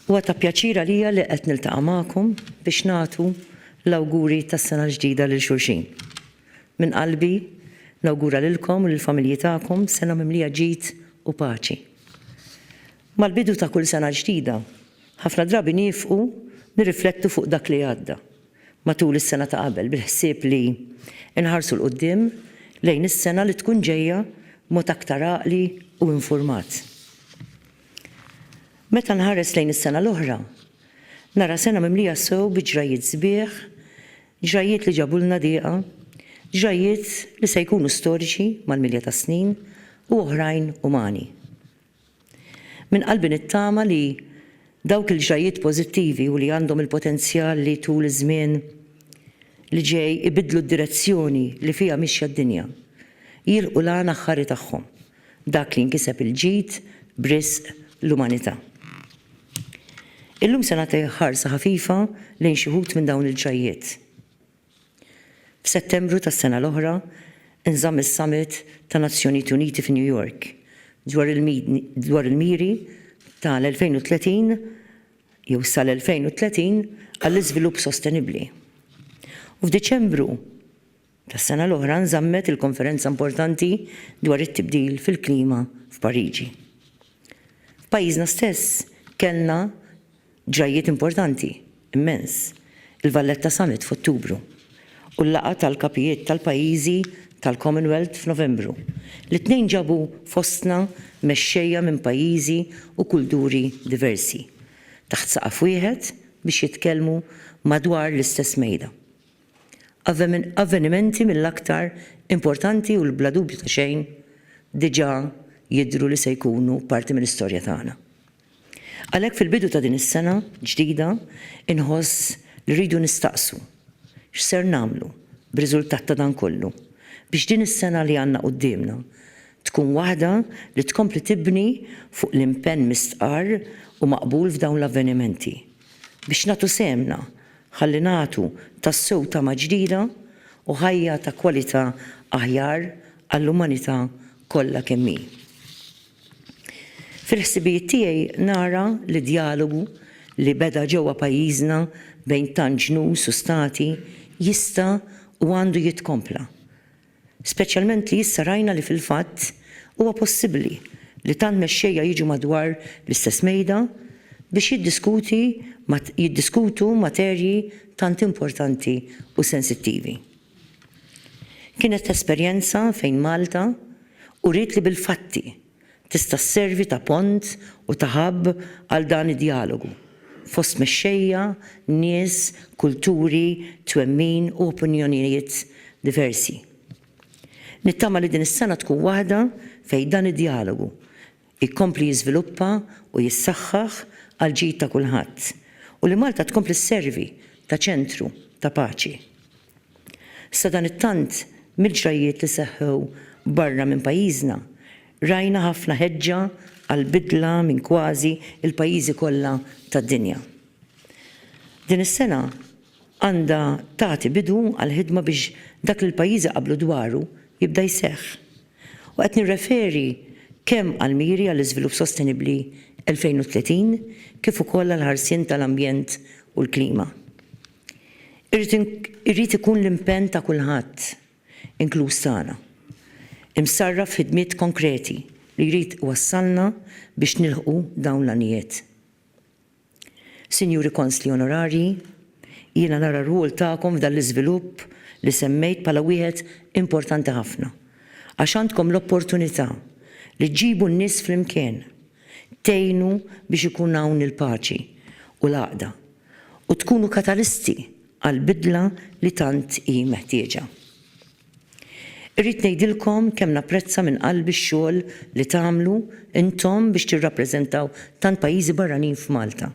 Huwa ta' pjaċir għalija li qed niltaqa' magħkom biex nagħtu l-awguri tas-sena l-ġdida lil xulxin. Minn qalbi nawgura lilkom u lill-familji tagħkom sena mimlija ġid u paċi. Mal-bidu ta' kull sena ġdida, ħafna drabi niefqu nirriflettu fuq dak li għadda matul is-sena ta' qabel bil-ħsieb li nħarsu 'l quddiem lejn is-sena li tkun ġejja b'mod aktar għaqli u infurmat. Meta nħares lejn is-sena l-oħra, nara sena mimlija sew bi ġrajjiet sbieħ, ġrajjiet li ġabulna diqa, ġrajjiet li se jkunu storiċi mal-milja tas-snin u oħrajn umani. Minn qalbi nittama li dawk il-ġrajjiet pożittivi u li għandhom il-potenzjal li tul iż-żmien li ġej ibiddlu d-direzzjoni li fiha mixja d-dinja, jilħqu l-għan aħħari tagħhom, dak li jinkiseb il-ġid b'riżq l-umanità. Illum se nagħti ħarsa ħafifa lejn xi wħud minn dawn il-ġrajjiet. F'Settembru tas-sena l-oħra nżamm is-Summit ta' Nazzjonijiet Uniti fi New York dwar il-miri tal-2030 jew sal-2030 għall-iżvilupp sostenibbli. U f'Diċembru tas-sena l-oħra nżammet il-konferenza importanti dwar it-tibdil fil-klima f'Pariġi. F'pajjiżna stess kellna Ġrajjiet importanti immens, il-Valletta Summit f'Ottubru u l-laqgħa tal-kapijiet tal-pajjiżi tal-Commonwealth f'Novembru, li t-tnejn ġabu fostna mexxejja minn pajjiżi u kulduri diversi, taħt saqaf wieħed biex jitkellmu madwar l-istess mejda. Avvenimenti mill-aktar importanti u li bla dubju ta' xejn diġà jidhru li se jkunu parti mill-istorja tagħna. Għalhekk fil-bidu ta' din is-sena ġdida inħoss li rridu nistaqsu x'ser nagħmlu b'riżultat ta' dan kollu biex din is-sena li għandna quddiemna tkun waħda li tkompli tibni fuq l-impenn mistqarr u maqbul f'dawn l-avvenimenti biex nagħtu sehemna ħalli nagħtu tassew tama ġdida u ħajja ta' kwalità aħjar għall-umanità kollha kemm hi. Fil-ħsibijiet tiegħi nara li d-djalogu li beda ġewwa pajjiżna bejn tant ġnus u stati jista' u għandu jitkompla. Speċjalment li issa rajna li fil-fatt huwa possibbli li tant mexxejja jiġu madwar l-istess mejda biex jiddiskuti jiddiskutu materji tant importanti u sensittivi. Kienet esperjenza fejn Malta uriet li bil-fatti tista' sservi ta' pont u ta' hub għal dan id-djalogu fost mexxejja, nies, kulturi, twemmin u opinjonijiet diversi. Nittama li din is-sena tkun waħda fejn dan id-djalogu, jkompli jiżviluppa u jissaħħaħ għall-ġid ta' kulħadd u li Malta tkompli sservi ta' ċentru ta' paċi. Sadanittant, mill-ġrajjiet li seħħew barra minn pajjiżna, rajna ħafna ħeġġa għall-bidla minn kważi l-pajjiżi kollha tad-dinja. Din is-sena għandha tagħti bidu għall-ħidma biex dak li l-pajjiżi qablu dwaru jibda jseħħ. u qed nirreferi kemm għall-miri għall-iżvilupp sostenibbli 2030 kif ukoll għall-ħarsien tal-ambjent u l-klima. Irid ikun l-impenn ta' kulħadd, inkluż tagħna, imsarraf f'ħidmiet konkreti li jrid iwassalna biex nilħqu dawn l-għanijiet. Sinjuri Konsli Onorarji, jiena nara r-rwol tagħkom f'dan l-iżvilupp li semmejt bħala wieħed importanti ħafna għax għandkom l-opportunità li ġġibu n-nies flimkien, tgħinu biex ikun hawn il-paċi u l-għaqda u tkunu katalisti għall-bidla li tant hi meħtieġa. Irrid ngħidilkom kemm napprezza minn qalbi x-xogħol li tagħmlu intom biex tirrappreżentaw tant pajjiżi barranin f'Malta.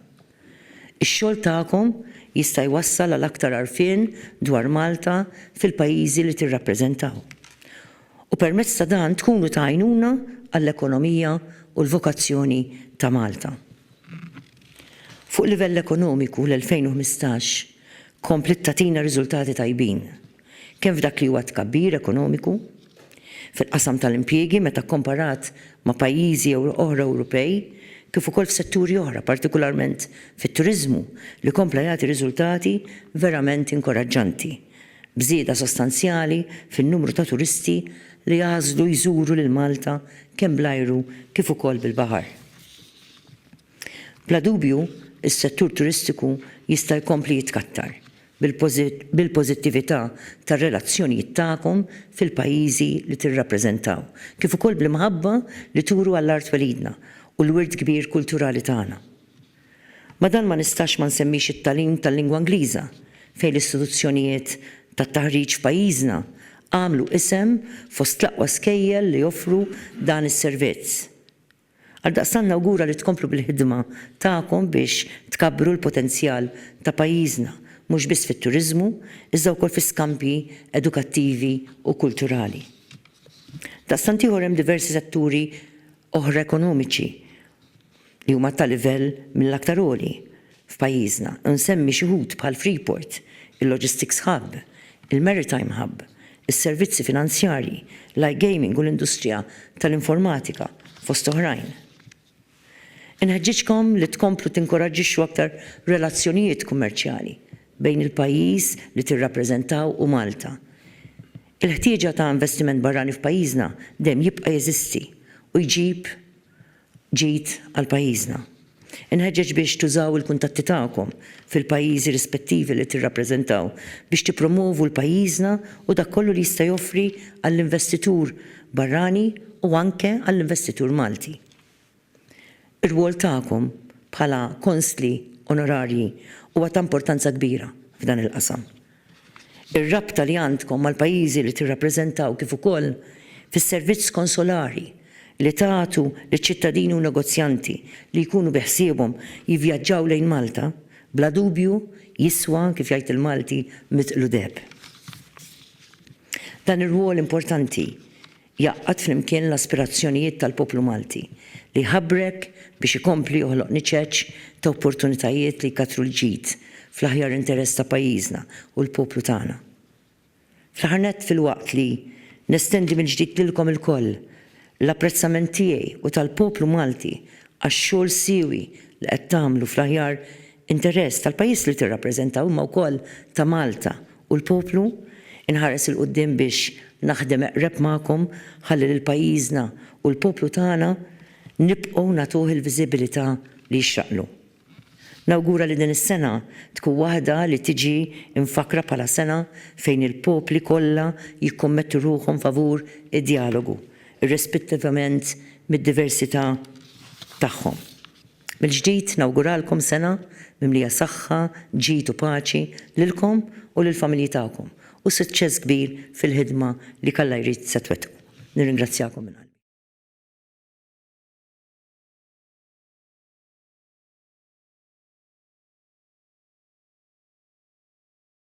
Ix-xogħol tagħkom jista' jwassal għal aktar għarfien dwar Malta fil-pajjiżi li tirrappreżentaw. U permezz ta' dan tkunu ta' għajnuna għall-ekonomija u l-vokazzjoni ta' Malta. Fuq livell ekonomiku l-2015 kompliet tagħtina riżultati tajbin. kemm f'dak li huwa t-tkabbir ekonomiku, fil-qasam tal-impjiegi meta kkomparat ma' pajjiżi oħra Ewropej, kif ukoll f'setturi oħra, partikularment fit-turiżmu li kompla jagħti riżultati verament inkoraġġanti, b'żieda sostanzjali fin-numru ta' turisti li jagħżlu jżuru lil Malta kemm bl-ajru kif ukoll bil-baħar. Bla dubju, is-settur turistiku jista' jkompli jitkattar bil-pożittività tar-relazzjonijiet tagħkom fil-pajjiżi li tirrappreżentaw, kif ukoll bl-imħabba li turu għall-art twelidna u l-wirt kbir kulturali tagħna. Ma' dan ma nistax ma nsemmix it-tagħlim tal-lingwa Ingliża, fejn l-istituzzjonijiet tat-taħriġ f'pajjiżna għamlu isem fost l-aqwa skejjel li joffru dan is-servizz. Għaldaqstant nawgura li tkomplu bil-ħidma tagħkom biex tkabbru l-potenzjal ta' pajjiżna mhux biss fit-turiżmu iżda wkoll fi skambji edukattivi u kulturali. Daqstant ieħor hemm diversi setturi oħra ekonomiċi li huma ta' livell mill-aktar għoli f'pajjiżna, u nsemmi xi wħud bħal Freeport, il-Logistics Hub, il-Maritime Hub, is-servizzi finanzjarji, l-iGaming u l-industrija tal-informatika, fost oħrajn. Inħeġġiġkom li tkomplu tinkoraġġixxu aktar relazzjonijiet kummerċjali bejn il-pajjiż li tirrappreżentaw u Malta. Il-ħtieġa ta' investiment barrani f'pajjiżna dejjem jibqa' jeżisti u jġib ġid għal pajjiżna. Inħeġġeġ biex tużaw il-kuntatti tagħkom fil-pajjiżi rispettivi li tirrappreżentaw biex tippromwovu 'l pajjiżna u dak kollu li jista' joffri għall-investitur barrani u anke għall-investitur Malti. Ir-rwol tagħkom bħala Konsli Onorarji huwa ta' importanza kbira f'dan il-qasam. Ir-rabta li għandkom mal-pajjiżi li tirrappreżentaw kif ukoll fis-servizz konsolari li tagħtu liċ-ċittadini u negozjanti li jkunu biħsiebhom jivvjaġġaw lejn Malta bla dubju jiswa, kif jgħid il-Malti, mitqlu deheb. Dan ir-rwol importanti Jgħaqqad flimkien l-aspirazzjonijiet tal-poplu Malti, li jħabrek biex ikompli joħloq niċeċ ta' opportunitajiet li jkattru l-ġid fl-aħjar interess ta' pajjiżna u l-poplu tagħna. Fl-aħħar nett, filwaqt li nestendi mill-ġdid lilkom ilkoll l-apprezzament tiegħi u tal-poplu Malti għax-xogħol siewi li qed tagħmlu fl-aħjar Interess tal-pajjiż li tirrappreżenta imma wkoll ta' Malta u l-poplu. Inħares 'il quddiem biex naħdem eqreb magħkom ħalli lil pajjiżna u l-poplu tagħna nibqgħu nagħtuh il-viżibilità li jixraqlu. Nawgura li din is-sena tkun waħda li tiġi mfakkra bħala sena fejn il-popli kollha jikkommettu ruħhom favur id-djalogu, irrispettivament mid-diversità tagħhom. Mill-ġdid nawguralkom sena mimlija saħħa, ġid u paċi lilkom u lill-familji tagħkom u suċċess kbir fil-ħidma li jekk Alla jrid se twettqu. Nirringrazzjakom minn qalbi.